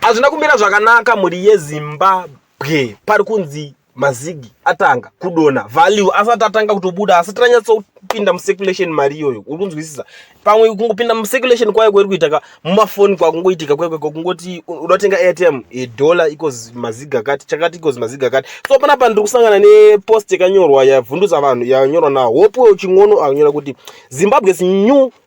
Hazvina kumira zvakanaka mhuri yeZimbabwe pari kunzi mazigi atanga kudona value asati atanga kutobuda asati ranyatsopinda mucirculation mari iyoyo uri kunzwisisa pamwe kungopinda mucirculation kwayo kwairi kuita ka mumafoni kwakungoitika kwekwe kwakungoti unotenga airtm edollar eh, equals mazigi akati chakati equals mazigi akati so pana pa ndiri kusangana nepost yakanyorwa yavhundutsa vanhu yanyorwa nahope uchingono anyora kuti zimbabwe is new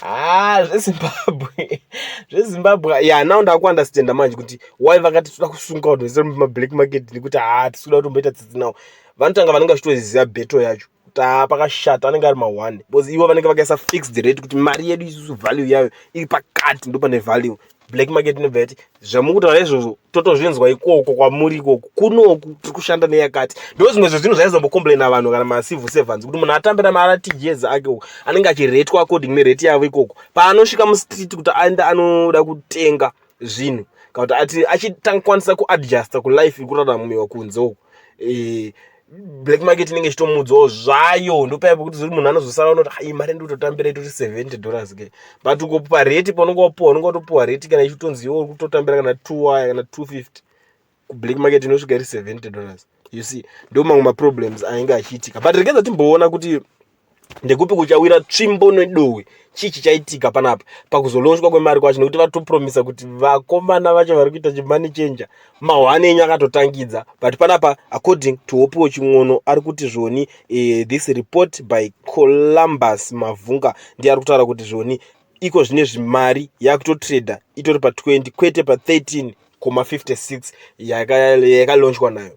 haa ah, zvezimbabwe zvezimbabwe ya yeah, now ndakuunderstanda manje kuti why vakati toda kusunga vanhu vese mumablack market nekuti haa ah, tisikuda kutomboita tsitsi nawo vanotanga vanenge vachitoziva beto yacho kuti haa ah, pakashata anenge ari mahwani because ivo vanenge vakaisa fixed rate kuti mari yedu isusu value yayo iri pakati ndopane value black market inobva yati zvamukutaura izvozvo totozvinzwa ikoko kwamuri ikoko kunoku tiri kushanda neyakati ndo zvimwe zvezvinhu zvaizombokomplaina vanhu kana macivil servants kuti munhu atambe namaratijezi ake uko anenge achiretwa according nerate yavo ikoko paanosvika mustreet kuti aende anoda kutenga zvinhu kana kuti ati achitangakwanisa kuadjusta kulife ikuraramiwa kunze uko e, black market inenge ichitomuudzawo zvayo ndopaya pekuti ziri munhu anozosara unoti hai mari ndototambira itori 70 dollars ke but ukopa rate paunenge wapuwa unenge watopuwa rate kana ichitonzi iwe uri kutotambira kana 2 waya kana 250 kublack market inosvika iri 70 dollars you see ndo mamwe maproblems ainge achiitika but regedza timboona kuti ndekupi kuchawira tsvimbo nedohwe chii chichaitika panapa pakuzolonjwa kwemari kwacho nekuti vatopromisa kuti vakomana vacho vari kuita chimani chenja mahwani enyu akatotangidza but panapa according to hopiwo ching'ono ari kuti zvoni eh, this report by columbus mavhunga ndiye ari kutaura kuti zvoni iko zvine zvimari yakutotrader itori pa 20 kwete pa 13 koma 56 yakalonjwa nayo